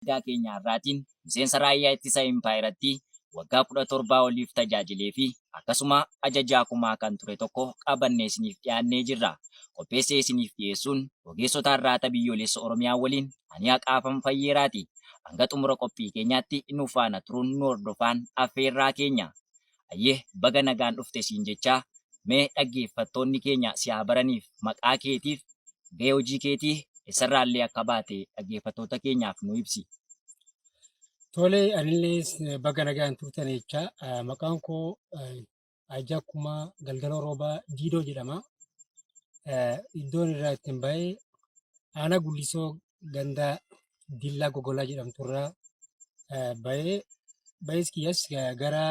Ergaa keenya har'aatiin miseensa Raayyaa Ittisa Impaayerattii waggaa 17 oliif tajaajilee fi akkasuma Ajajaa Kumaa kan ture tokko qabannee isiniif dhiyaannee jirra. Qopheessee isiniif dhiyeessuun ogeessota Arraata Biyyoolessa Oromiyaa waliin ani Haqaafam Fayyeeraati. Hanga xumura qophii keenyaatti nu faana turuun nu hordofaan affeerraa keenya. Hayyee baga nagaan dhufte siin jechaa mee dhaggeeffattoonni keenya si haa baraniif maqaa keetiif gahee hojii keetii essarraa illee akka baate dhaggeeffattoota keenyaaf nu ibsi. Tole anillee baga nagaan turtan jechaa ah, maqaan koo ah, Ajaa Kumaa Galgaloo Roobaa Diidoo jedhama. Eh, Iddoon irraa ittiin ba'e aanaa Gullisoo ganda Dillaa Gogolaa jedhamtu irraa eh, bahee bahees kiyyas eh, gara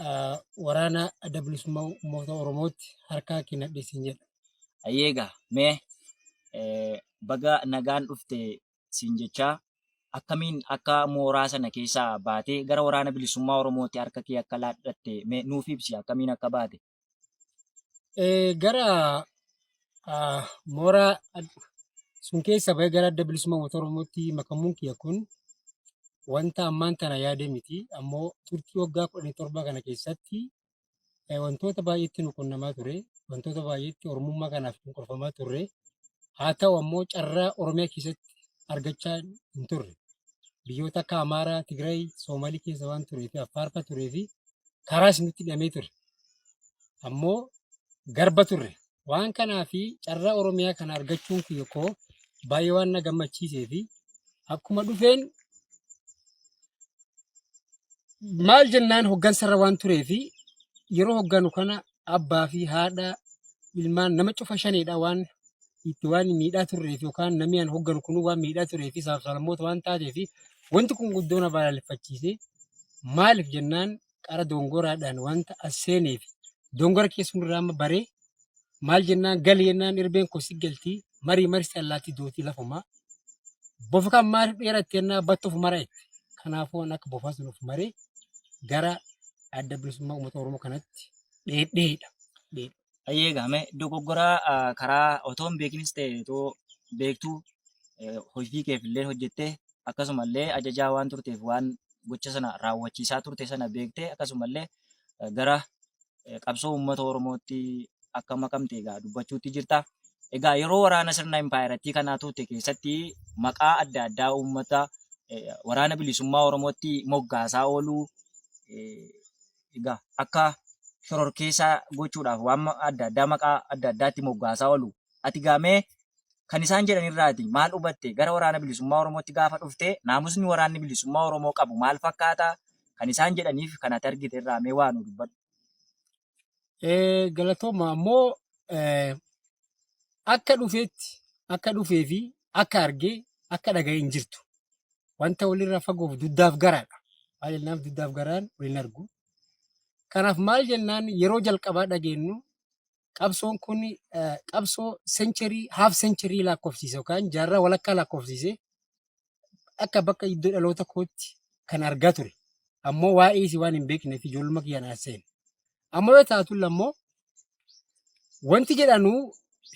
eh, waraana adda bilisummaa uummata Oromootti harkaa kennadhe siin jedha. Ayyeegaa mee eh, baga nagaan dhufte siin jechaa akkamiin akka mooraa sana keessaa baatee gara waraana bilisummaa Oromootti harka kee akka laadhatte mee nuuf ibsi akkamiin akka baate. gara mooraa sun keessa bahee gara adda bilisummaa uummata Oromootti makamuun kiyya kun wanta ammaan tana yaade miti. Ammoo turtii waggaa kudhanii torba kana keessatti wantoota baay'eetti nu qunnamaa ture. Wantoota baay'eetti Oromummaa kanaaf nu qorfamaa turre. Haa ta'u ammoo carraa Oromiyaa keessatti argachaa hin turre. Biyyoota akka Amaaraa, Tigraay, Soomaalii keessa waan turee fi Affaarfa turee fi karaas nutti hidhamee ture. ammoo garba turre. Waan kanaa fi carraa Oromiyaa kana argachuun kiyya koo baay'ee waan na gammachiisee fi akkuma dhufeen maal jennaan hoggansarra waan turee fi yeroo hogganu kana abbaa fi haadha ilmaan nama cufa shaneedha waan itti waan miidhaa turree fi yookaan namni an hogganu kun waan miidhaa turee fi saafsalammoota waan taatee fi wanti kun guddoo na balaaleffachiise maaliif jennaan qara dongoraadhaan wanta as seenee fi dongora kee sunirraa amma baree maal jennaan gali jennaan irbeen koo si galti marii marsi allaatti dootii lafumaa bofa kan maaliif dheeratte jennaa battuuf mara itti kanaafuu waan akka bofaa sunuuf maree gara adda bilisummaa uummata oromoo kanatti dheedheedha. Dheedhe. Ayyee gaame dogoggoraa ah, karaa otoo hin beekinis ta'e otoo beektuu eh, hojii keef illee hojjettee akkasumallee ajajaa waan turteef waan gocha sana raawwachiisaa turte sana beektee akkasumallee eh, gara eh, qabsoo uummata Oromootti akka makamte egaa dubbachuutti jirta. Egaa yeroo waraana sirna impaayerattii kanaa turte keessatti maqaa adda addaa uummata eh, waraana bilisummaa Oromootti moggaasaa ooluu eh, egaa akka shororkeessaa gochuudhaaf waan adda addaa maqaa adda addaatti moggaasaa oolu. Ati gaamee kan isaan jedhan irraati maal hubatte gara waraana bilisummaa Oromootti gaafa dhufte naamusni waraanni bilisummaa Oromoo qabu maal fakkaata kan isaan jedhaniif kan ati argite irraa mee waa nu dubbadhu. Galatooma ammoo akka dhufeetti akka dhufee fi akka argee akka dhaga'e hin jirtu. wanta walirraa fagoof duddaaf garaadha. Maal jennaaf duddaaf garaan wal hin argu. Kanaaf maal jennaan yeroo jalqabaa dhageenyu qabsoon kun eh, qabsoo sencherii haaf sencherii lakkoofsiise yookaan jaarraa walakkaa lakkoofsiise akka bakka iddoo dhaloota kootti kan argaa ture. Ammoo waa'ee isii waan hin beekneef ijoolluma kiyyaan as seene. Amma yoo taatu lammoo wanti jedhanu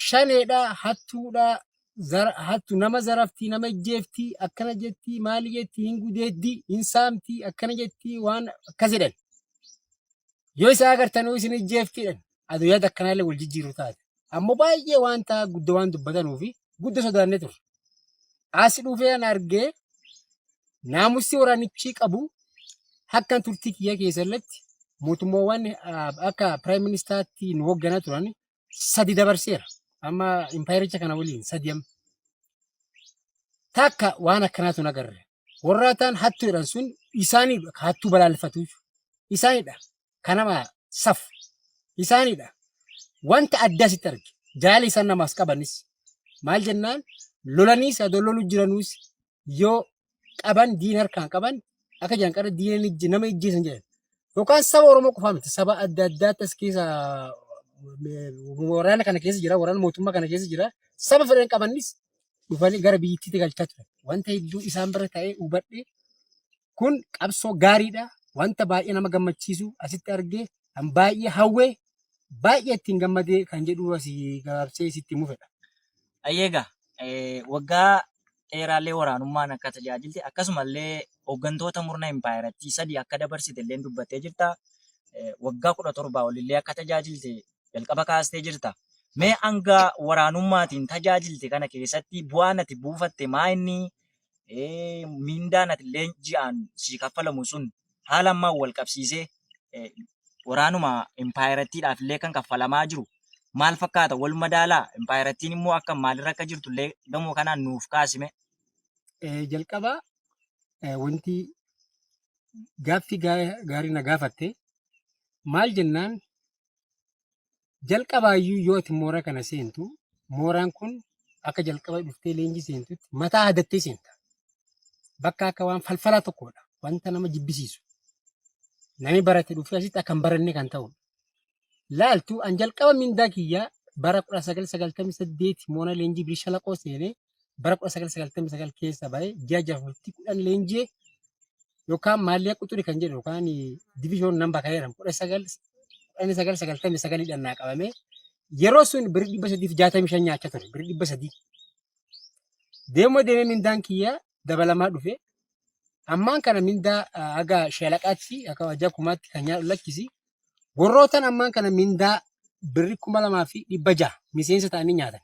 shaneedha, hattuudha, zara, hattu nama zarafti, nama ijjeefti, akkana jetti, maali jetti, hin gudeeddi, hin saamti, akkana jetti, waan akkas jedhan. Yoo isa agartanuu isin ijjeeftiidhan. Aduyyaatti akkanaallee wal jijjiiru taate. Ammoo baay'ee wanta gudda waan dubbatanuufi gudda sodaannee turre. As dhufee an argee naamussi waraanichi qabu akkan turtii kiyya keessallatti mootummaawwan ah, akka piraayim ministaatti nu hoogganaa turan sadi dabarseera. Amma impaayericha kana waliin sadi amma. Takka waan akkanaatu na garre. Warraataan hattuudhaan sun isaaniidha hattuu balaaleffatuuf isaaniidha. kan nama safu isaanidha. Wanta addaa sitti arge jaala isaan namaas qabanis maal jennaan lolaniis adoo lolu jiranuus yoo qaban diin harkaan qaban akka jiran qara diina ni ijji- nama ijjeesan jedhan. Yookaan saba Oromoo qofaa miti saba adda addaatti as keessa eh, waraana kana keessa jira waraana mootummaa kana keessa jira saba fedhan qabanis dhufanii gara biyyittiitti galchaa turan. Wanta hedduu isaan bira ta'ee hubadhe Kun qabsoo gaariidha. Wanta baay'ee nama gammachiisu asitti argee kan baay'ee hawwee baay'ee ittiin gammadee kan jedhu asii gabaabsee sitti himuuf fedha. Ayyeega eh, waggaa dheeraallee waraanummaan akka tajaajilte akkasumallee hooggantoota murna impaayerattii sadii akka dabarsite illee dubbattee jirta. Eh, Waggaa kudha torbaa olillee akka tajaajilte jalqaba kaastee jirta. Mee hanga waraanummaatiin tajaajilte kana keessatti bu'aan ati buufatte maa inni mindaan atilleen ji'aan sii kaffalamu sun haala ammaan wal qabsiisee waraanuma impaayerattiidhaaf illee kan kaffalamaa jiru maal fakkaata? Wal madaalaa? Impaayerattiin immoo akka maalirra akka jirtu illee gamoo kanaan nuuf kaasime. Jalqaba wanti gaaffii gaarii na gaafatte maal jennaan Jalqabaayyuu yoo ati moora kana seentu mooraan kun akka jalqaba dhuftee leenjii seentutti mataa hadattee seenta. Bakka akka waan falfalaa tokkodha. Wanta nama jibbisiisu. Namni barate dhufee asitti akka hin baranne kan ta'udha. Laaltu an jalqaba mindaa kiyyaa bara 1998 moona leenjii bilisha laqoo seenee bara 1999 keessa ba'ee ji'a jaha bultii kudhan leenji'e yookaan maallee quxuri kan jedhu yookaan division namba kan jedhamu 1999 dhaan naa qabamee yeroo sun birri 365 nyaachaa ture birri 300 deemuma deemee mindaan kiyya dabalamaa dhufe ammaan kana mindaa ah, haga shalaqaatti akka wajjaa kumaatti kan nyaadhu lakkisi warrootan ammaan kana mindaa birri 2600 miseensa ta'anii nyaatan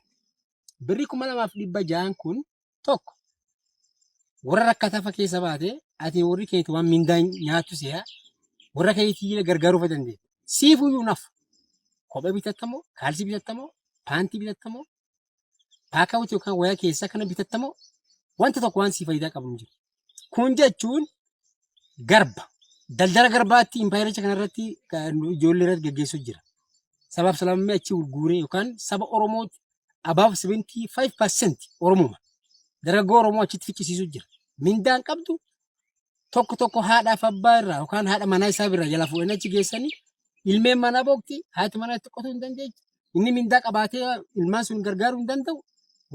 birri kuma lamaaf dhibba ja'an kun tokko warra rakkatafa keessa baate ati warri keeti waan mindaa nyaattu si'a warra keetii gargaaruu fa dandeenya. Siifuu iyyuu nafu. Kophee bitattamoo, kaalsii bitattamoo, paantii bitattamoo, paakaawutii yookaan wayaa keessaa kana bitattamoo wanta tokko waan sii faayidaa qabu hin jiru. Kun jechuun garba. Daldala garbaatti impaayericha kanarratti ijoollee irratti gaggeessuu jira. Sabaaf sablammii achi gurguuree yookaan saba Oromootti above 75% Oromuma. Dargaggoo Oromoo achitti ficcisiisuu jira. Mindaan qabdu tokko tokko haadhaaf abbaa irraa yookaan haadha manaa isaa irraa jala fuudhanii achi geessanii ilmeen manaa boqti haati manaa itti qotuu hin dandeechu. Inni mindaa qabaatee ilmaan sun gargaaruu hin danda'u.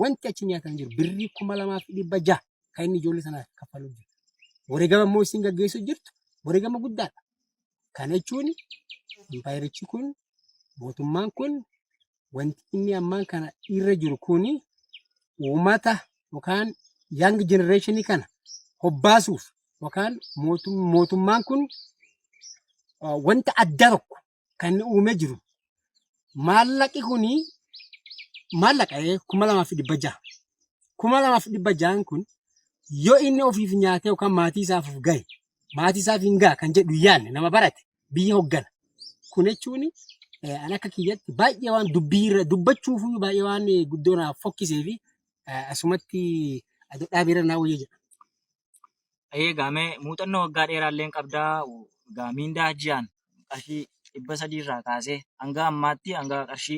Wanti achi nyaatan jiru birrii kuma lamaa fi dhibba jaha. kan inni ijoollee sanaaf kaffaluu jiru. Wareegama immoo isin gaggeessuu jirtu wareegama guddaadha. Kana jechuun impaayerichi kun mootummaan kun wanti inni ammaan kana irra jiru kun uummata yookaan young generation kana hobbaasuuf yookaan mootum- mootummaan kun uh, wanta addaa tokko kan inni uumee jiru maallaqi kuni maallaqa eh, kuma lamaa fi dhibba jaha. Kuma lamaa fi dhibba jahan kun yoo inni ofiif nyaatee yookaan maatii isaaf gahe maatii isaaf hin gaha kan jedhu yaadne nama barate biyya hoggana. Kun jechuun eh, an akka kiyyatti baay'ee waan dubbii irra dubbachuuf baay'ee waan eh, guddoo naaf fokkisee fi eh, asumatti adda dhaabee irra naa wayya jedha. Ayyee gaamee muuxannoo waggaa dheeraa illee qabdaa gaa miindaa ji'aan qarshii dhibba sadii irraa kaasee hanga ammaatti hanga qarshii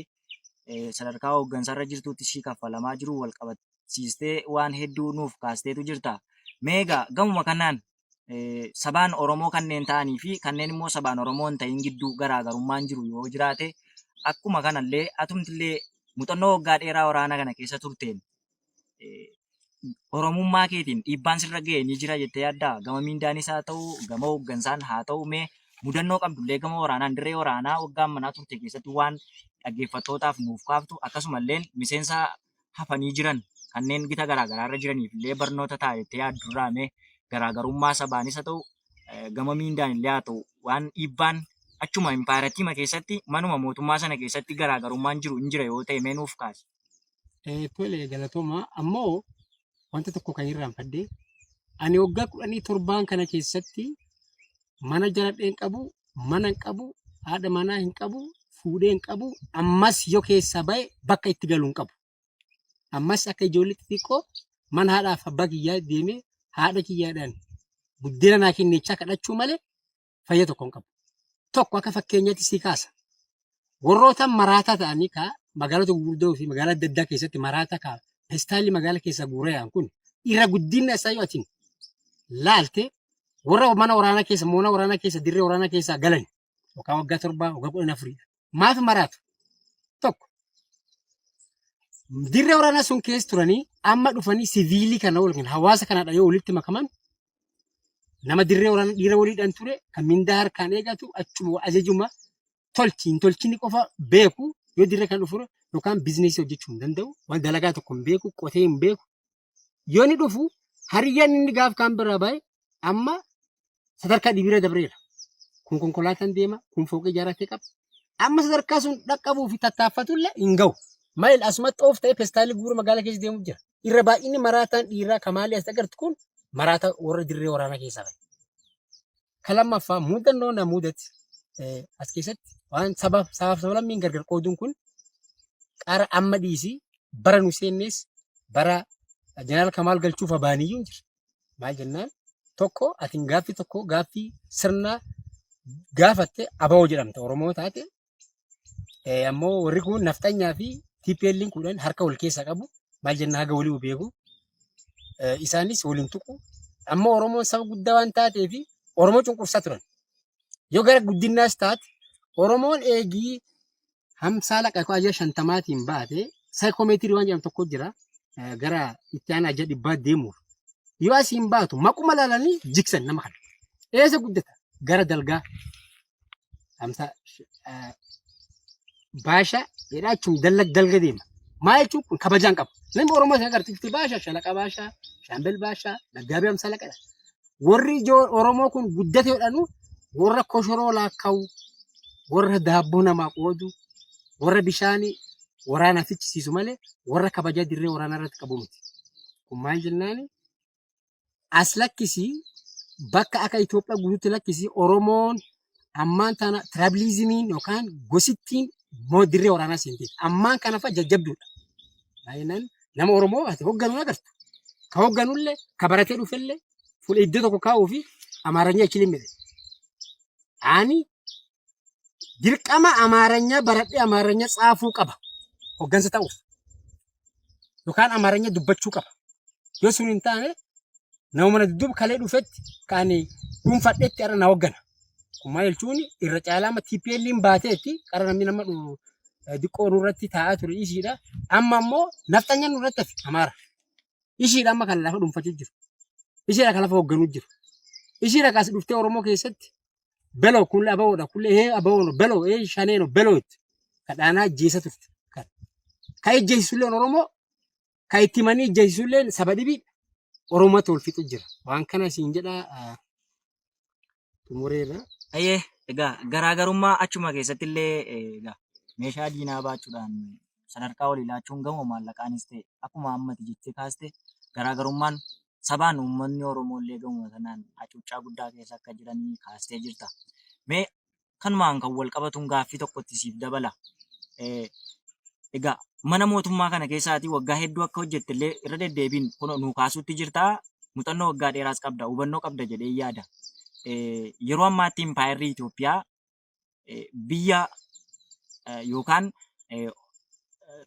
eh, sadarkaa hooggansarra jirtuutti sii kaffalamaa jiru wal qabachiistee waan hedduu nuuf kaasteetu jirta. Mee egaa gamuma kanaan eh, sabaan Oromoo kanneen ta'anii fi kanneen immoo sabaan Oromoo hin ta'in gidduu garaagarummaan jiru yoo jiraate akkuma kanallee atumtillee muuxannoo waggaa dheeraa waraana kana keessa turteen Oromummaa keetiin dhiibbaan sirra ga'e ni jira jettee yaaddaa? Gama miindaanis haa ta'u, gama hooggansaan haa ta'u mee mudannoo qabdullee gama waraanaan dirree waraanaa waggaa manaa turte keessatti waan dhaggeeffattootaaf nuuf kaaftu akkasumallee miseensa hafanii jiran kanneen gita garaagaraa irra jiraniif illee barnoota ta'a jettee yaaddurraa mee garaagarummaa sabaanis haa ta'u gama miindaan illee haa ta'u waan dhiibbaan achuma impaayiraatiima keessatti manuma mootummaa sana keessatti garaagarummaan jiru hin jira yoo ta'e mee nuuf kaasi. Eh, Tole galatooma ammoo wanta tokko kan irraanfadhe ani waggaa kudhanii torbaan kana keessatti mana jaladhee hin qabu mana hin qabu haadha manaa hin qabu fuudhee hin qabu ammas yoo keessaa ba'e bakka itti galu hin qabu ammas akka ijoollee xixiqqoo mana haadhaaf abbaa kiyyaa deemee haadha kiyyaadhaan buddeena naa kenneechaa kadhachuu malee fayya tokko hin qabu. Tokko akka fakkeenyaatti sii kaasa. Warroota maraataa ta'anii kaa magaalota gurguddoo fi magaalaa adda addaa keessatti maraataa kaa pestaalli magaala keessaa guuree yaa'an kun irra guddinna isaa yoo atiin laalte warra mana waraanaa keessa moona waraanaa keessa dirree waraanaa keessaa galan yookaan waggaa torbaa waggaa kudhan afurii maaf maraatu? Tokko. Dirree waraanaa sun keessa turanii amma dhufanii siviilii kana yookiin hawaasa kanadha yoo walitti makaman nama dirree waraanaa dhiira waliidhaan ture kan mindaa harkaan eegatu achuma ajajuma tolchi hin tolchini qofa beeku yoo dirree kana dhufu yookaan bizineesii hojjechuu hin danda'u waan dalagaa tokko hin beeku qotee hin beeku yoo ni dhufu hariyyaan inni gaaf kaan biraa bahe amma sadarkaa dhibiira dabreera. Kun konkolaataan deema, kun fooqii ijaarratee qaba. Amma sadarkaa sun dhaqqabuu fi tattaaffatullee hin gahu. Maayil asumatti oof ta'ee pestaalii guura magaalaa keessa deemu jira. Irra baay'inni maraataan dhiiraa kamaalii as agartu kun maraataa warra dirree waraanaa keessaa bahe. Kan lammaffaa muuxannoo na muudate eh, as keessatti waan sabaaf sabaaf sablammiin gargar qooduun kun qara amma dhiisii bara nu seennees bara jeneraal Kamaal galchuuf abaaniyyuu hin jira. Maal jennaan tokko atiin gaaffii tokko gaaffii sirnaa gaafatte abawoo jedhamta Oromoo taate Eh, ammoo warri kun nafxanyaa fi TPL'n kudhan harka wal keessa qabu maal jenna haga walii hu beeku Eh, isaanis waliin tuqu amma Oromoon saba guddaa waan taatee fi Oromoo cunqursaa turan yoo gara guddinnaas taate Oromoon eegii hamsaa laqa koo ajaa shantamaatiin baate saayikoomeetirii waan jedhamu tokko jira Eh, gara itti aanaa ajaa dhibbaa deemuuf yoo asiin baatu maquma laalanii jigsan nama kana eessa guddata gara dalgaa Amsa baasha jedhaa jechuun dalga dalga deema. Maa jechuun kun kabajaan qaba. Namni Oromoo isa agarsiifti baasha shalaqa baasha shaambel baasha daggaabii amsa laqadha. Warri ijoo Oromoo kun guddate jedhanu warra koshoroo laakka'u warra daabboo namaa qoodu warra bishaanii waraanaaf fichisiisu malee warra kabaja dirree waraanaa irratti qabu miti. Kun maal jennaani? as lakkisii bakka akka Itoophiyaa guutuutti lakkisii Oromoon ammaan tana tirabiliizimiin yookaan gosittiin moo dirree waraanaa seentee ammaan kana fa'a jajjabduudha. Baay'inaan nama Oromoo ati hogganu agartu. Ka hogganullee ka baratee dhufellee fuula iddoo tokko kaa'uu fi Amaaranya achi limmite. Ani dirqama amaaranya baradhe amaaranya tsaafuu qaba hoggansa ta'uuf yookaan amaaranya dubbachuu qaba yoo sun hin taane nama mana dudduuba kalee dhufetti kan dhuunfadhetti irra na hoggana kun maal jechuun irra caalaa amma TPL'n baateetti qara namni nama dhu- eh, diqqoo nurratti taa'aa ture ishiidha amma immoo nafxanya nurratti hafe amaara ishiidha amma kan lafa dhuunfachuu jiru ishiidha kan lafa hoogganuu jiru ishiidha kaas dhuftee oromoo keessatti Beloo kulle abawoodha kulle hee abawoon beloo hee shaneeno beloo itti kadhaanaa ajjeesa turte. Kan ka ejjeessulleen Oromoo ka itti manii ejjeessulleen saba dhibii Oromoo tol fixu jira. Waan kana siin jedhaa ah, xumureerra. Ayyee egaa garaagarummaa achuma keessatti illee egaa meeshaa diinaa baachuudhaan sadarkaa walii laachuun gamoo maallaqaanis ta'e akkuma ammati jettee kaaste garaagarummaan sabaan uummatni Oromoollee gamuma sanaan hacuuccaa guddaa keessa akka jiran kaastee jirta. Mee kanumaan kan wal qabatuun gaaffii tokko itti siif dabala. Egaa mana mootummaa kana keessaatii waggaa hedduu akka hojjettellee irra deddeebiin kunoo nuu kaasuutti jirta. Muuxannoo waggaa dheeraas qabda, hubannoo qabda jedhee yaada. Yeroo ammaatti impaayerri Itoophiyaa biyya yookaan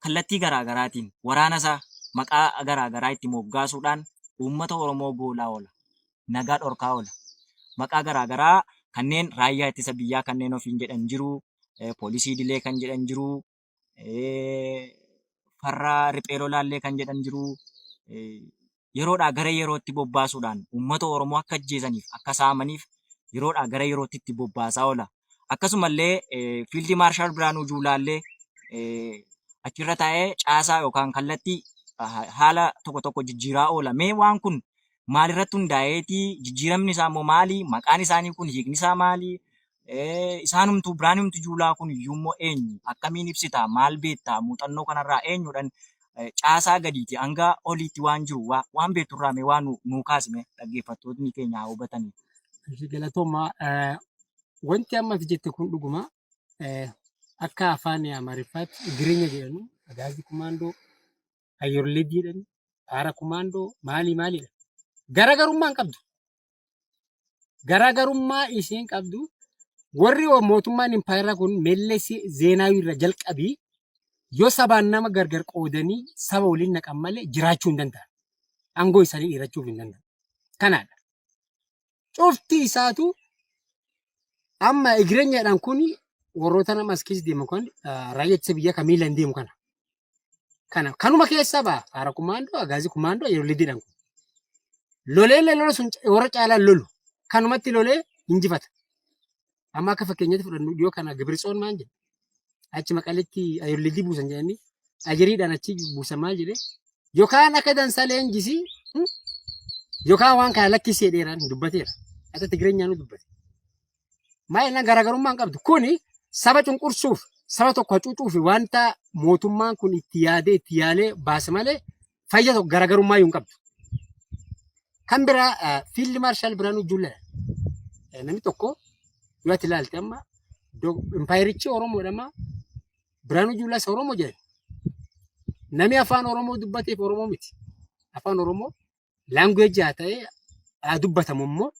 kallattii garaa garaatiin waraanasaa maqaa garaa garaa itti moggaasuudhaan uummata Oromoo goolaa oola. Nagaa dhorkaa oola. Maqaa garaa garaa kanneen raayyaa ittisa biyyaa kanneen ofiin jedhan jiru, poolisii idilee kan jedhan jiru, farra riphee lolaallee kan jedhan jiru yeroodhaa gara yerootti bobbaasuudhaan uummata Oromoo akka ajjeesaniif akka saamaniif yeroodhaa gara yerootti itti bobbaasaa oola. Akkasumallee fiildi maarshaal Birhaanuu Juulaallee achirra taa'ee caasaa yookaan kallattii haala tokko tokko jijjiiraa oola. Mee waan kun maalirratti hundaa'eeti? Jijjiiramni isaa immoo maali? Maqaan isaanii kun hiikni isaa maali? isaanumtuu biraanumti juulaa kun iyyuummoo eenyu akkamiin ibsitaa maal beektaa muuxannoo kanarraa eenyudhan caasaa gadiiti hanga oliitti waan jiru waan beekturraa mee waan nuu kaasime dhaggeeffattootni keenya haa hubatanii. Galatoomaa wanti amma ati jette kun dhuguma akka afaan Amaariffaatti Igirinya jedhanu agaazii kumaandoo ayyooleeddii jedhani paara kumaandoo maalii maalidha. Garaagarummaa hin qabdu. Garaagarummaa isheen qabdu warri mootummaan impaayeraa kun Mellee Zeenaawii irra jalqabii yoo sabaan nama gargar qoodanii saba waliin naqan malee jiraachuu hin danda'an. Aangoo isaanii dhiirachuuf hin danda'an. Kanaadha. Cufti isaatu amma egreenyaadhaan kun warroota nama as keessa deemu kan raayyaa ittisa biyyaa kan miilaan deemu kana. kana kanuma keessaa ba'a haara kumaandoo agaazii kumaandoo yeroo lidiidhaan kun lolee illee lola sun warra caalaan lolu kanumatti lolee injifata amma akka fakkeenyatti fudhannu yoo kana gibirtsoon maal jedhe achi maqalitti ayollidii buusan jedhanii ajiriidhaan achi buusan maal jedhe yookaan akka dansaa leenjisii hmm? yookaan waan kana lakkisee dheeraan dubbateera akka tigireenyaanuu dubbate Maayilna garaagarummaan qabdu kuni saba cunqursuuf saba tokko hacuucuuf wanta mootummaan kun itti yaadee itti yaalee baase malee fayya tokko garaagarummaa hin qabdu. Kan biraa fiildi maarshaal Biraanuu Juulaa namni tokko yoo ati ilaalte amma impaayerichi Oromoodha amma Biraanuu Juulaas Oromoo jedhan. Namni afaan Oromoo dubbateef Oromoo miti. Afaan Oromoo language haa ta'e haa dubbatamu immoo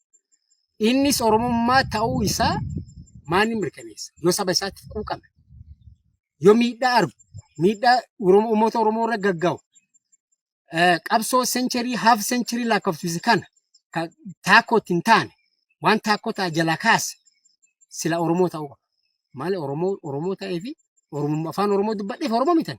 innis Oromummaa ta'uu isaa maanni mirkaneessa yoo saba isaatti quuqame yoo miidhaa argu miidhaa Oromoo- uummata Oromoo irra gagga'u eh, qabsoo sencherii haaf sencherii lakkoofsise kana kan taakkootti hin taane waan taakkoo ta'a jalaa kaase sila Oromoo ta'uu qaba. Maali Oromoo Oromoo ta'ee fi Oromummaa afaan Oromoo dubbadheef Oromoo mitan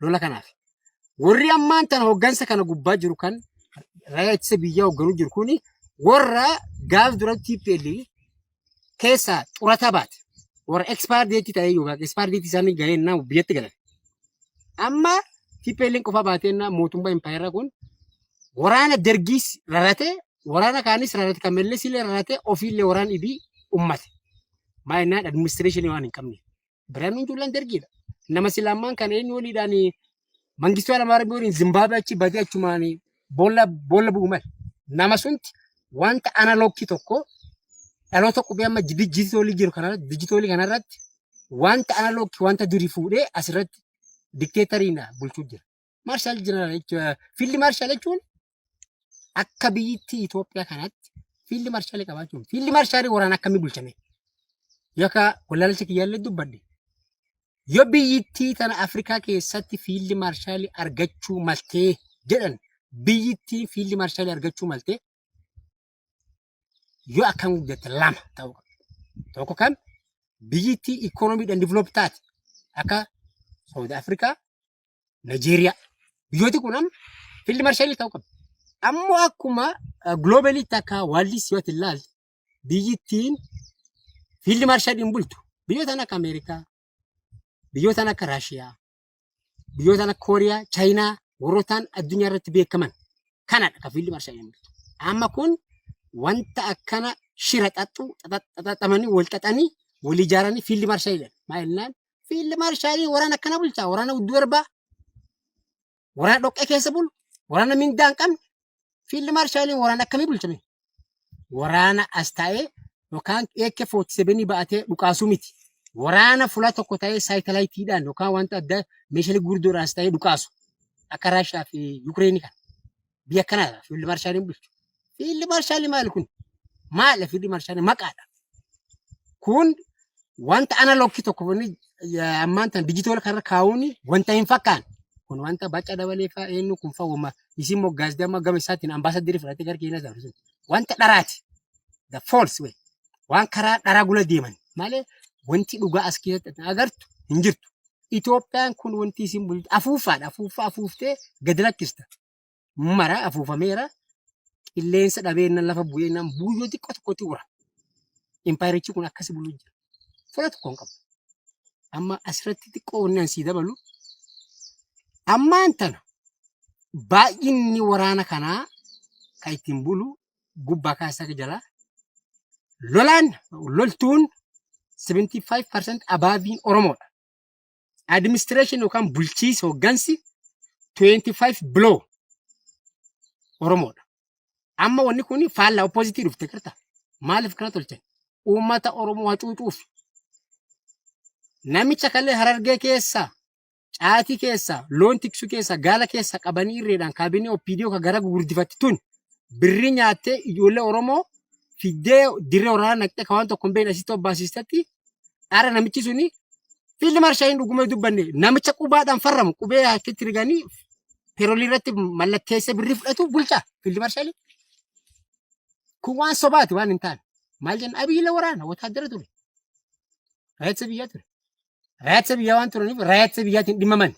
lola kanaaf. Warri ammaan tana hoggansa kana gubbaa jiru kan raayyaa ittisa biyyaa hogganuu jiru kuni warra gaaf dura TPL keessaa xurata baate. Warra expire date ta'ee yookaan expire date isaanii gahee innaa biyyatti galan. Amma TPL qofa baatee innaa mootummaa impaayera kun waraana dargiis rarate waraana kaanis rarate kan mellees illee rarate ofiillee waraana ibii ummate. Maayinaan administreeshinii waan hin qabne. Birhaanuu Juulaan dargiidha. Nama silaammaan kan eenyu waliidhaan mangistuu Alamaarabbii waliin Zimbaabii achi badee achumaan boolla boolla bu'u male. Nama sunti wanta analookii tokko dhaloota qubee amma dijitoolii jiru kanarratti dijitoolii kanarratti wanta analookii wanta durii fuudhee asirratti dikteetariin bulchuu jira. Maarshaal Jeneraal jechuun fiildi maarshaal jechuun akka biyyittii Itoophiyaa kanatti fiildi maarshaalii qabaachuun fiildi maarshaalii waraana akkamii bulchame yookaan wallaalcha kiyyaallee dubbadde yoo biyyittii tana Afrikaa keessatti fiildi maarshaalii argachuu maltee jedhan biyyittiin fiildi maarshaalii argachuu maltee yoo akkam guddatte lama ta'uu qabdi. Tokko kan biyyittii ikoonomiidhaan diviloopi taate akka Saawud Afrikaa, Nigeeriyaa. Biyyooti kun amma fiildi marshalii ta'uu qabdi. Ammoo akkuma giloobaliitti akka waallis yoo ilaalte biyyittiin fiildi marshaliin bultu biyyoota akka Ameerikaa, biyyoota akka Raashiyaa, biyyoota Kooriyaa, Chaayinaa warrootaan addunyaa irratti beekaman kanadha kan fiildi marshaa jedhamu. Amma kun wanta akkana shira xaxxu xaxxamanii wal xaxanii wal ijaaranii fiildi marshaa jedhan. Maal jennaan fiildi marshaa waraana akkana bulchaa waraana udduu erbaa waraana dhoqqee keessa bulu waraana mindaa hin qabne Fiildi maarshaaliin waraana akkamii bulchame? Waraana as taa'ee yookaan AK-47 ba'atee dhukaasuu miti. Waraana fuula tokko ta'ee saayitalaayitiidhaan yookaan wanta adda meeshaalee gurguddoodhaan as ta'ee dhukaasu. Akka Raashiyaa fi Yukireenii kana. Biyya kanaadha fiildi maarshaaliin bulchu. Fiildi maarshaalii maal kun? Maal fiildi maarshaalii maqaadha. Kun wanta analog tokko kun ammaan tan digital kan kaa'uun wanta hin fakkaanne. Kun wanta baca dabalee fa'aa eenyu kun fa'aa wama isin moggaas damma gama isaatiin ambaasaddirii fudhatee gara keenyas dabarsu. Wanta dharaati. The false way. Waan karaa dharaa gula deeman malee wanti dhugaa as keessatti agartu hin jirtu. Itoophiyaan kun wanti isin bultu afuuffaadha. Afuuffaa afuuftee gad lakkista. mara afuufameera. Qilleensa dhabeenna lafa bu'eenna buuyyoo xiqqoo tokkotti ura. Impaayerichi kun akkasi buluu jira. Fula tokko hin qabu. Amma asirratti xiqqoo wanni an sii dabalu. Ammaan tana baay'inni waraana kanaa kan ittiin bulu gubbaa kaasaa jalaa lolaan loltuun 75% abaaviin Oromoodha. Administration yookaan bulchiisi hoggansi 25 below Oromoodha. Amma wanni kun faallaa oppozitii dhufte garta. Maaliif kana tolchan? Uummata Oromoo hacuucuuf. Namicha kallee harargee keessa, caatii keessa, loon tiksuu keessa, gaala keessa qabanii irreedhaan kaabinee OPDO ka gara gurguddifatte tun birrii nyaattee ijoollee Oromoo fiddee dirree waraanaa naqxee ka waan tokko hin beekne asitti obbaasiistetti Ara namichi suni fiildi marshaaliin dhuguma hin dubbanne namicha qubaadhaan farramu qubee harkitti riganii peroolii irratti mallatteessa birrii fudhatu bulchaa fiildi marshaalii. Kun waan sobaati waan hin taane. Maal jenna abiyyiila waraana wotaaddara ture. Raayitsa biyyaa ture. Raayitsa biyyaa waan turaniif raayitsa biyyaatiin dhimmaman.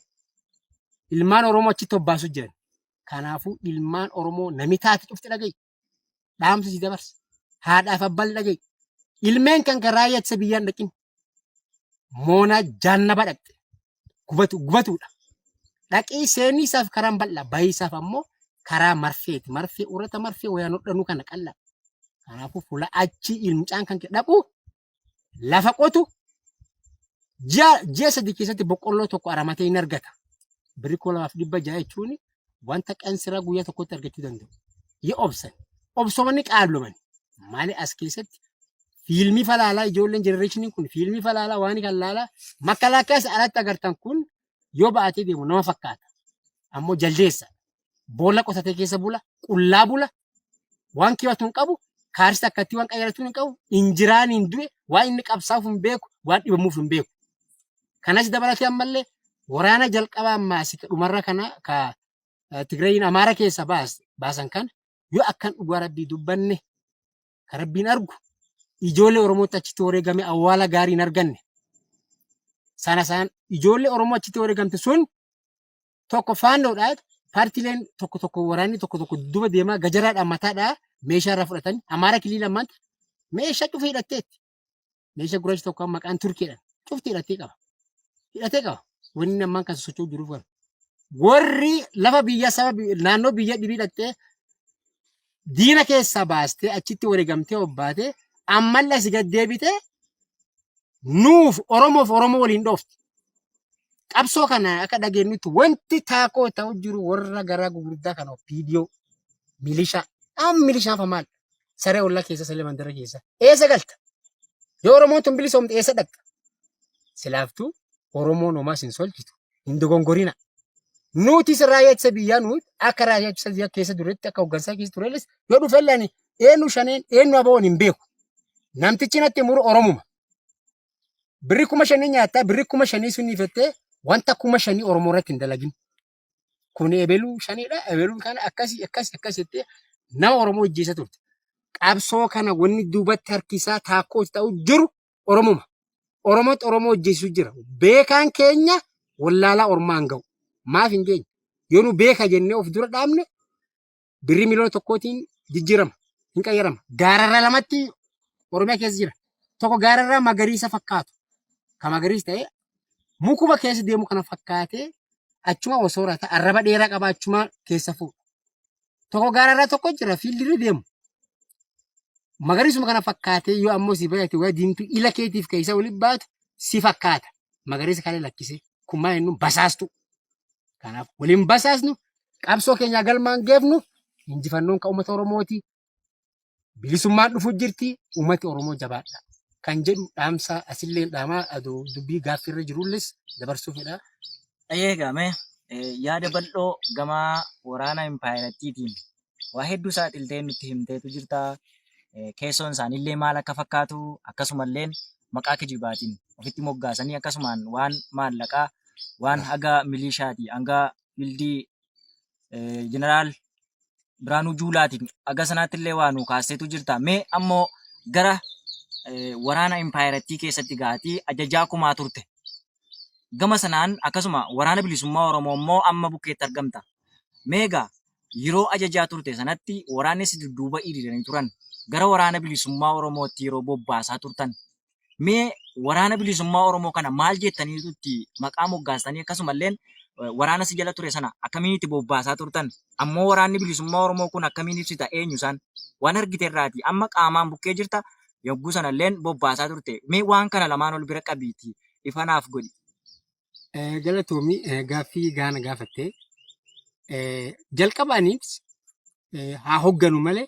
Ilmaan Oromoo achitti hobbaasu jiran. Kanaafuu ilmaan Oromoo nami taate cufti dhaga'i. dhaamsa si dabarsa. Haadhaaf abbaan dhaga'i. Ilmeen kan kan raayyaa ittisa biyyaan dhaqin. Moonaa jaannaba dhaqxe. Gubatu gubatuudha. Dhaqii seenii isaaf karaan bal'aa bayii isaaf ammoo karaa marfeeti. Marfee urata marfee wayaan hodhanuu kana qal'aa. Kanaafuu fuula achii ilmcaan kan kee dhaqu lafa qotu ji'a ji'a sadii keessatti boqqolloo tokko aramatee hin argata. Birrii kuma lamaaf dhibba ja'a jechuun wanta qansiraa guyyaa tokkotti argachuu danda'u. Yoo obsan obsomanni qaabloman maali as keessatti fiilmii falaalaa ijoolleen jenereeshiniin kun fiilmii falaalaa waan kan laalaa makalaakeessa alatti agartan kun yoo ba'atee deemu nama fakkaata. Ammoo jaldeessa boolla qotatee keessa bula qullaa bula waan kiyatu hin qabu kaarsi akkatti waan qayyaratu hin qabu injiraan hin du'e waan inni qabsaaf hin beeku waan dhibamuuf hin beeku kanas dabalatee ammallee waraana jalqabaa ammaasi ka dhumarra kana ka eh, Tigrayin Amaara keessa baas baasan kana yoo akkan dhugaa rabbii dubbanne ka rabbiin argu ijoollee Oromootti achitti wareegame awwaala gaarii hin arganne sana isaan ijoollee Oromoo achitti wareegamte sun tokko faannoodhaa paartileen tokko tokko waraanni tokko tokko duba deemaa gajaraadhaan mataadhaa meeshaa irraa fudhatanii amaara kilii lamaatti meeshaa cufa hidhatteetti. Meeshaa gurraachi tokko amma maqaan turkiidhaan cufti hidhattee qaba. Hidhatee qaba. Wanni ammaan kan socho'u jiruuf kana. Warri lafa biyya saba naannoo biyya dhibii hidhattee diina keessaa baastee achitti wareegamtee obbaatee ammallee si gad deebitee nuuf Oromoof Oromoo waliin dhoofti. Qabsoo kana akka dhageenyutti wanti taakoo ta'u jiru warra garaa gugurdaa kana viidiyoo milishaa amma milishaan fa maal saree ollaa keessa saree mandara keessa eessa galta yoo Oromoon tun bilisoomte eessa dhaqxa silaaftuu Oromoon homaa sin solchitu hin dogongorina. Nutis raayyaa ittisa biyyaa nuti akka raayyaa ittisa biyyaa keessa duretti akka hooggansaa keessa turelis yoo dhufe illee ani eenyu shaneen eenyu aboon hin beeku. Namtichi natti muru Oromuma. Birri kuma shanii nyaattaa birri kuma shanii sunii fettee wanta kuma shanii Oromoo irratti hin dalagin. Kun ebeluu shaniidha ebeluun kana akkasii akkasii akkasii jettee nama Oromoo hojjeessa turte. Qabsoo kana wanni duubatti harkisaa taakkoo ta'u jiru Oromuma. Oromootti Oromoo hojjeessu jira. Beekaan keenya wallaalaa ormaan ga'u. Maaf hin geenye? Yoo nu beeka jennee of dura dhaabne birrii miliyoona tokkootiin jijjiirama. Hin qayyarama. Gaararraa lamatti Oromiyaa keessa jira. Tokko gaararraa magariisa fakkaatu. Kan magariis ta'ee Mukuma keessa deemu kana fakkaatee achuma osoo rata arraba dheeraa qaba achuma keessa fuudha. Tokko gaararraa tokko jira fiildirra deemu. Magariisuma kana fakkaatee yoo ammoo si baay'ate waa diimtuu ila keetiif keessa waliin baatu si fakkaata. Magariisa kana lakkisee kun maal jennuun basaastu. Kanaaf waliin basaasnu qabsoo keenyaa galmaan geefnu injifannoon kan uummata Oromooti. bilisummaan dhufu jirti uummati Oromoo jabaadha kan jedhu dhaamsaa asilleen dhaamaa adoo dubbii gaaffiirra jirulles dabarsuu fedha. Ayyee egaa mee eh, yaada bal'oo gama waraana impaayerattiitiin waa hedduu saaxiltee nutti himteetu jirta. Eh, Keessoon isaaniillee maal akka fakkaatu akkasumalleen maqaa kijibaatiin ofitti moggaasanii akkasumaan waan maallaqaa waan haga miliishaatii hanga bildii jeneraal Biraanuu Juulaatiin aga sanaatti illee waa nu kaasteetu jirta. Mee ammoo gara waraana impaayerattii keessatti gaatii ajajaa kumaa turte. Gama sanaan akkasuma waraana bilisummaa Oromoo immoo amma bukkeetti argamta. Meegaa yeroo ajajaa turte sanatti waraanni si dudduuba hiriiranii turan gara waraana bilisummaa Oromootti yeroo bobbaasaa turtan Mee waraana bilisummaa Oromoo kana maal jettaniitu itti maqaa moggaastanii akkasumalleen waraana si jala ture sana akkamiin itti bobbaasaa turtan? Ammoo waraanni bilisummaa Oromoo kun akkamiin ibsita? Eenyu isaan? Waan argite irraati. Amma qaamaan bukkee jirta. Yogguu sanalleen bobbaasaa turte. Mee waan kana lamaan ol bira qabiitii ifa naaf godhi. Eh, Galatoomi eh, gaaffii gaana gaafatte. Eh, Jalqaba anis eh, haa hogganu malee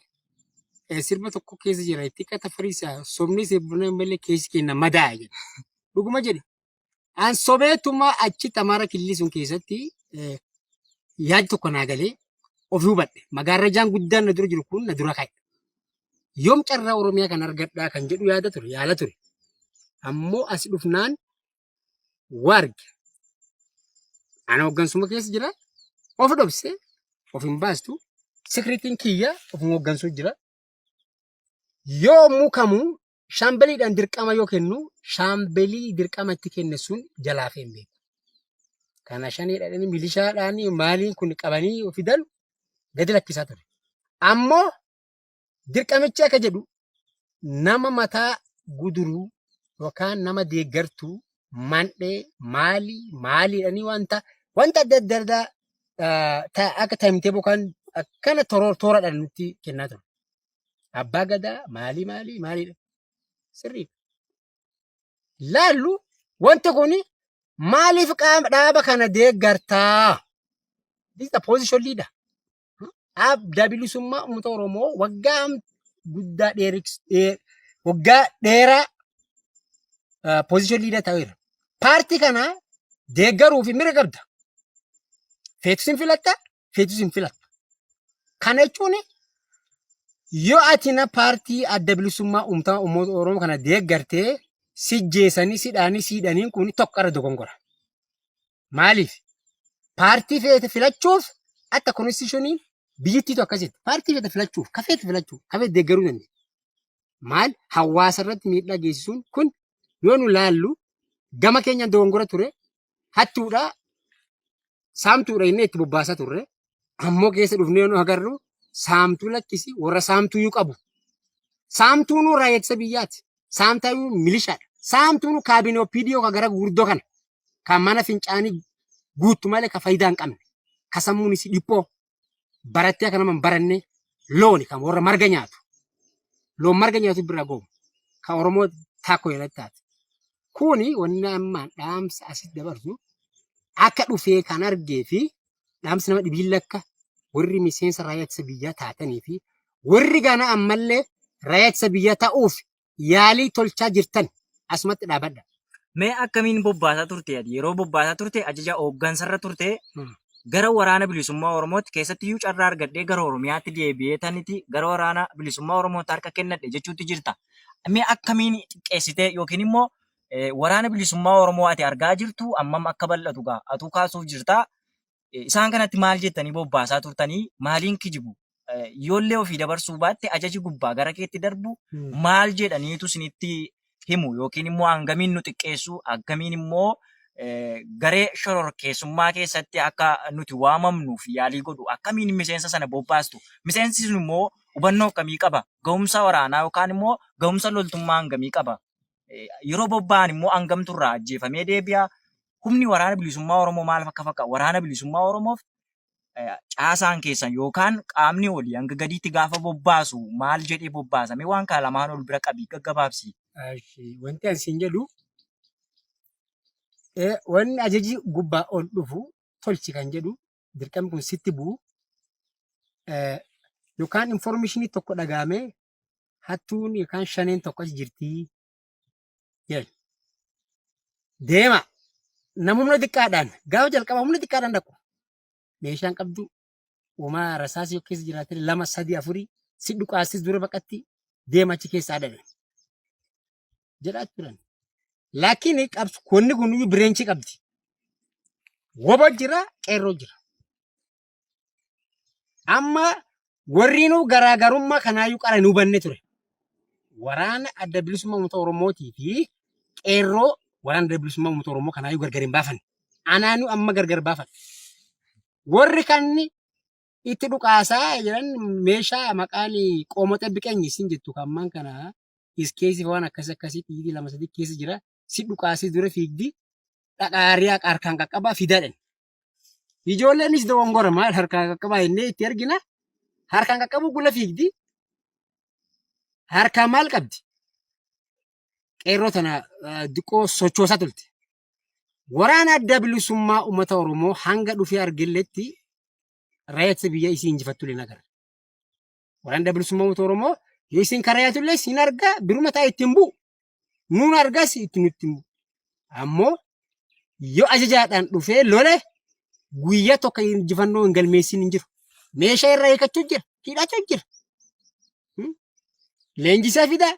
eh, sirba tokko keessa jira itti qata fariisa sobni sirba malee keessi kenna madaa jedha. Dhuguma jedhe. An sobeetuma achi tamaara killii sun keessatti eh, yaad tokko naa galee of hubadhe. Magaarrajaan guddaan na dura jiru kun na dura ka'e. Yoom carraa Oromiyaa kan argadhaa kan jedhu yaada ture, yaala ture. Ammoo as dhufnaan warg ana hoggansuma keessa jira of dhobse of hin baastu sikiritiin kiyya of hin hoggansuu jira yoomuu kamuu shaambeliidhaan dirqama yoo kennu shaambelii dirqama itti kenne sun jalaa hin beeku. Kana shanii dhadhanii milishaadhaan maaliin kun qabanii fidan gadi lakkisaa ture. Ammoo Dirqamichi akka jedhu nama mataa guduruu yookaan nama deeggartuu mandhee maalii maaliidhanii wanta wanta adda adda addaa ah, ta- akka taimtee bokaan akkana toroo tooradhaan nutti kennaa ture. Abbaa gadaa maalii maalii maaliidha sirrii laallu wanti kun maaliif qaama dhaaba kana deeggartaa? This is the position leader. adda bilisummaa uummata Oromoo waggaa am- guddaa dheeriks- dhee- waggaa dheeraa poozishin liidar ta'eera. Paartii kana deeggaruu fi mirga qabda. Feetus hin filatta, feetus hin filatta. Kana jechuun yoo ati na paartii adda bilisummaa uummata uummata Oromoo kana deeggartee si jeesanii, si dhaanii, si hidhaniin kun tokko irra dogongora. Maaliif? Paartii feete filachuuf akka konstitushiniin biyyittiitu akkasitti. Paartii feete filachuuf, ka feete filachuuf, ka feete deeggaruu dandeenya. Maal hawaasa irratti miidhaa geessisuun kun yoo nu laallu gama keenyaan dogongora ture hattuudha saamtuudha inni itti bobbaasaa turre ammoo keessa dhufnee nu agarru saamtuu lakkisi warra saamtuu yuu qabu. Saamtuun raayyaa ittisa biyyaati. Saamtuun milishaadha. Saamtuun kaabinee OPDO ka gara guddoo kana. ka mana fincaanii guuttu malee ka faayidaa hin qabne ka sammuun isii dhiphoo barattee akka nama hin baranne looni kan warra marga nyaatu loon marga nyaatu bira goomu ka oromoo taakko jedhatti taate kuni wanni ammaan dhaamsa asitti dabarsu akka dhufee kan argee fi dhaamsi nama dhibiin lakka warri miseensa raayyaa ittisa biyyaa taatanii fi warri gana ammallee raayyaa ittisa biyyaa ta'uuf yaalii tolchaa jirtan asumatti dhaabadha. Mee akkamiin bobbaasaa turte ati? Yeroo bobbaasaa turte ajaja hooggansarra turte Hmm. gara waraana bilisummaa Oromootti keessatti iyyuu carraa argadhee gara Oromiyaatti deebi'ee taniti gara waraana bilisummaa Oromootti harka kennadhe jechuutti jirta. Mee akkamiin xiqqeessitee yookiin immoo eh, waraana bilisummaa Oromoo ati argaa jirtu ammam akka bal'atu gaa atuu kaasuuf jirta. Isaan kanatti maal jettanii bobbaasaa turtanii maaliin kijibu? Yoollee ofii dabarsuu baatte ajaji gubbaa gara keetti darbu maal jedhaniitu isinitti himu yookiin immoo hangamiin nu xiqqeessu akkamiin immoo garee shororkeessummaa keessatti akka nuti waamamnuuf yaalii godhu akkamiin miseensa sana bobbaastu miseensi sun immoo hubannoo akkamii qaba ga'umsa waraanaa yookaan immoo ga'umsa loltummaa hangamii qaba yeroo bobba'an immoo hangamtu irraa ajjeefamee deebi'a. Humni waraana bilisummaa Oromoo maal akka fakkaatu waraana bilisummaa Oromoof caasaan keessan yookaan qaamni olii hanga gadiitti gaafa bobbaasu maal jedhee bobbaasame waan kana lamaan ol bira qabii gaggabaabsi. Wanti ani siin jedhu wanni ajaji gubbaa ol dhufu tolchi kan jedhu dirqamni kun sitti bu'u yookaan informeeshinii tokko dhagaamee hattuun yookaan shaneen tokko achi jirtii jedhan. Deema nama humna xiqqaadhaan gaafa jalqaba humna xiqqaadhaan dhaqu meeshaan qabdu uumaa rasaas yoo keessa jiraate lama sadii afurii si dhukaastis dura baqatti deema achi keessaa dhabe jedhaa turan. Laakiin qabsu kunni kun bireenchii qabdi. Wobo jira qeerroo jira. Amma warriinuu garaagarummaa kanaayyuu qara hin hubanne ture. Waraana adda bilisummaa uummata Oromootii fi qeerroo waraana adda bilisummaa uummata Oromoo kanaayyuu gargar hin baafanne. Anaanuu amma gargar baafadha. Warri kan itti dhukaasaa jiran meeshaa maqaan qoomoxee biqeenyi isin jettu kan ammaan kana iskeesii waan akkas akkasii dhiigii lama sadii keessa jira. Si dhukaasii dura fiigdi dhaqaariyaa harkaan qaqqabaa fidaadhan. Ijoolleenis dogongora maal harkaan qaqqabaa jennee itti ergina. Harkaan qaqqabuu gula fiigdi. Harkaan maal qabdi? Qeerroo tana eh, diqqoo sochoosaa turte. Waraana adda bilisummaa uummata Oromoo hanga dhufee argilletti raayyaa ittisa biyyaa isii injifattu illee nagarra. Waraan adda bilisummaa uummata Oromoo yoo isin karayaatu illee isin argaa biruma taa'e ittiin bu'u. Nuun argaas itti nutti hin bu'u. Ammoo yoo ajajaadhaan dhufee lole guyyaa tokko injifannoo hin galmeessin hin jiru. Meeshaa irraa hiikachuu jira. Hidhachuu jira. Hmm? Leenjisaa fidaa.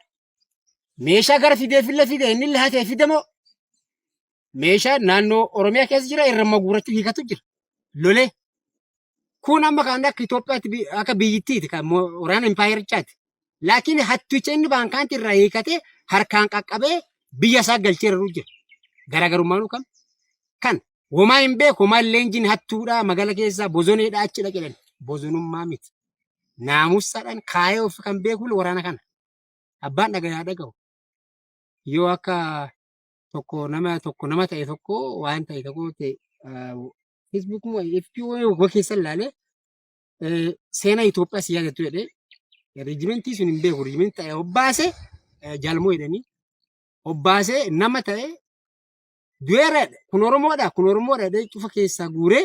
meeshaa gara fideefillee fide innillee hatee fide moo meeshaa naannoo Oromiyaa keessa jira irra maguurachuu hiikatu jira. Lolee kun amma kan akka Itoophiyaatti bi- akka biyyittiiti kan mo- waraana impaayerichaati. Laakiin hatticha inni baankaanti irraa hiikatee harkaan qaqqabee biyya isaa galchee irra jira. Garaagarummaan kan kan homaa hin beeku homaa leenjiin hattuudha magala keessaa bozoneedha achi dhaqedhan bozonummaa miti. Naamusaadhaan kaayee of kan beeku waraana kana. Abbaan dhagaye haa dhagahu. Yoo akka tokko nama tokko nama ta'e tokko waan ta'e tokko ta'e Facebook moo FB moo keessa ilaalee eh, seenaa Itoophiyaa si yaadattu jedhee riijimentii sun hin beeku riijimentii ta'e obbaase eh, jaalmoo jedhanii obbaase nama ta'e du'eera jedhe. kun Oromoodha kun Oromoodha jedhee cufa keessaa guuree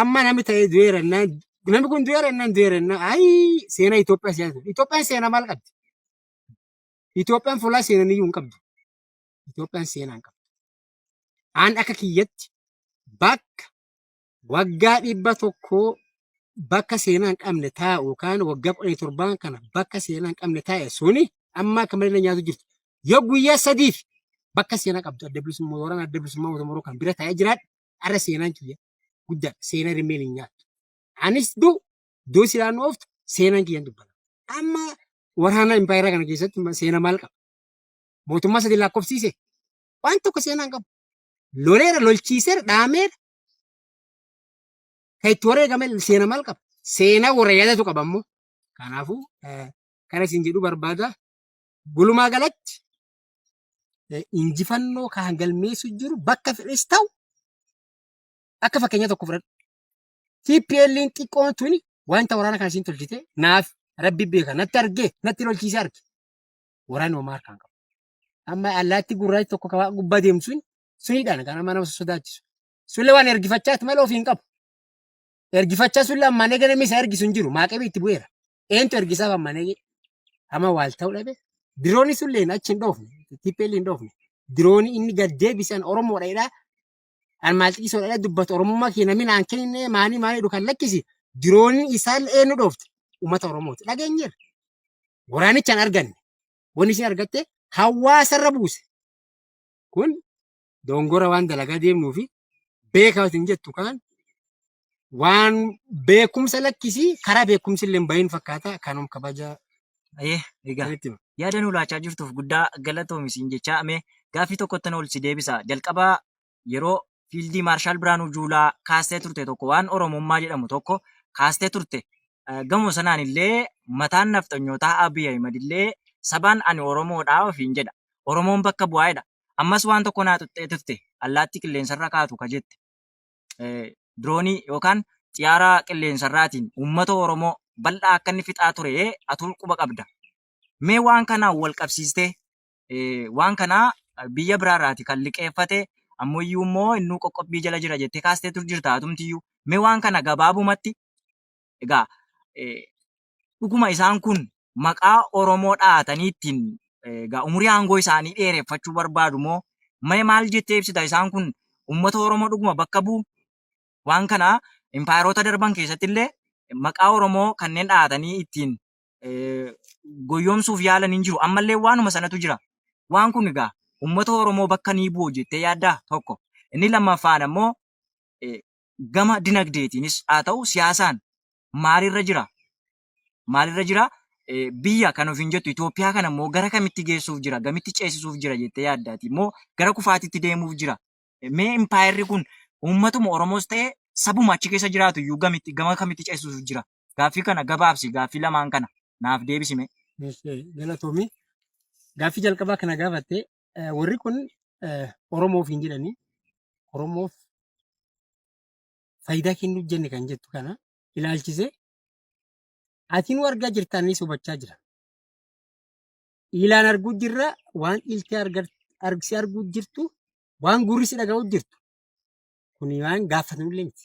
Amma namni ta'ee du'eera innaan namni kun du'eera innaan du'eera innaan ayi seena Itoophiyaa siyaasa. Itoophiyaan seena maal qabdi? Itoophiyaan fuulaa seenan iyyuu hin qabdu. Itoophiyaan seenaa hin qabdu. Aan akka kiyyatti bakka waggaa dhibba tokkoo bakka seenaa hin qabne taa'u yookaan waggaa kudha torbaan kana bakka seenaa hin qabne taa'e suni amma akka malee na nyaatu jirtu. Yoo guyyaa sadiif bakka seenaa qabdu adda bilisummaa waraana adda bilisummaa uummata Oromoo kan bira taa'ee jiraadhu Har'a seenaan kiyya guddaa seenaa rimmeen hin nyaattu. Anis du duu silaa nu ooftu seenaan kiyyan dubbata. Amma waraana impaayeraa kana keessatti ma- seenaa maal qaba? Mootummaa sadii lakkoofsiise waan tokko seenaa hin qabu. Loleera, lolchiiseera, dhaameera. Kan itti wareegame seenaa maal qaba? Seenaa warra yaadatu qaba immoo. Kanaafuu eh, kana isin jedhu barbaada. Gulumaa galatti injifannoo kan galmeessu jiru bakka fedhes ta'u akka fakkeenya tokko fudhadhu. TPL'n xiqqoon tuni wanta waraana kana isiin tolchite naaf rabbi beeka natti argee natti lolchiisee arge. Waraanni homaa harkaan qabu. Amma allaatti gurraachi tokko kabaa gubbaa deemtu sun sunidhaan kan amma nama sodaachisu. Sullee waan ergifachaati malee ofii hin qabu. Ergifachaa sun lammaa nega namni isa ergisu hin jiru. Maaqebii itti bu'eera. Eentu ergisaaf amma nege. Amma waal ta'uu dhabe. Dirooni sun leen achi hin dhoofne. Tippeel hin dhoofne. Dirooni inni gad deebisan Oromoodha jedhaa. An maal xiqisoo dhala dubbatu Oromummaa kee namni naan kennine maanii maanii jedhu kan lakkisi. Dirooni isaan eenyu dhoofte. Uummata Oromooti. Dhageenyeerra. Waraanicha hin arganne. Wanni isin argatte hawaasarra buuse. Kun dogongora waan dalagaa deemnuu fi beekaa isin jettu kaan waan beekumsa lakkisii karaa beekumsi illee hin bahin fakkaata kanum kabaja Ayee, egaa sanitti hima. yaada nu laachaa jirtuuf guddaa galatoomi siin jechaa amee gaaffii tokkotti na olsi deebisa. Jalqaba yeroo fiildii Maarshaal Biraanuu Juulaa kaastee turte tokko waan Oromummaa jedhamu tokko kaastee turte. Eh, Gama sanaan illee mataan nafxanyootaa Abiy Ahimad illee sabaan ani Oromoodhaa ofiin jedha. Oromoon bakka bu'aa jedha. Ammas waan tokko naa xuxxee turte. Allaattii qilleensarra kaatu ka jette diroonii yookaan xiyaara qilleensarraatiin uummata Oromoo bal'aa akka inni fixaa ture atuu quba qabda. Mee waan kanaan wal qabsiistee waan kana biyya biraarraati kan liqeeffate ammayyuu immoo innuu qoqqobbii jala jira jettee kaastee tur jirta atumtiyyuu. Mee waan kana gabaabumatti egaa dhuguma isaan kun maqaa Oromoo dhahatanii ittiin egaa umurii aangoo isaanii dheereffachuu barbaadu moo mee maal jettee ibsita isaan kun uummata Oromoo dhuguma bakka bu'u? Waan kana impaayeroota darban keessatti illee maqaa Oromoo kanneen dhahatanii ittiin eh, goyyomsuuf yaalan hin jiru. Ammallee waanuma sanatu jira. Waan kun egaa uummata Oromoo bakka ni bu'u jettee yaaddaa? Tokko. Inni lammaffaan ammoo eh, gama dinagdeetiinis haa ta'u siyaasaan maalirra jira? Maalirra jira? Biyya kan ofiin jettu Itoophiyaa kana immoo gara kamitti geessuuf jira? Gamitti ceesisuuf jira jettee yaadda ati? Immoo gara kufaatitti deemuuf jira? Mee impaayerri kun uummatuma Oromoos ta'e sabuma achi keessa jiraatu iyyuu gamitti gama kamitti ceesisuuf jira? Gaaffii kana gabaabsi gaaffii lamaan kana naaf deebisi mee. Galatoomii. Gaaffii jalqabaa kana gaafattee Warri kun Oromoo ofiin jedhanii Oromoof faayidaa kennuuf jenne kan jettu kana ilaalchisee ati nu argaa jirta annis hubachaa jira. Ilaan arguu jirra waan iltee argsi arguu jirtu waan gurri si dhaga'u jirtu. Kuni waan gaafatamullee miti.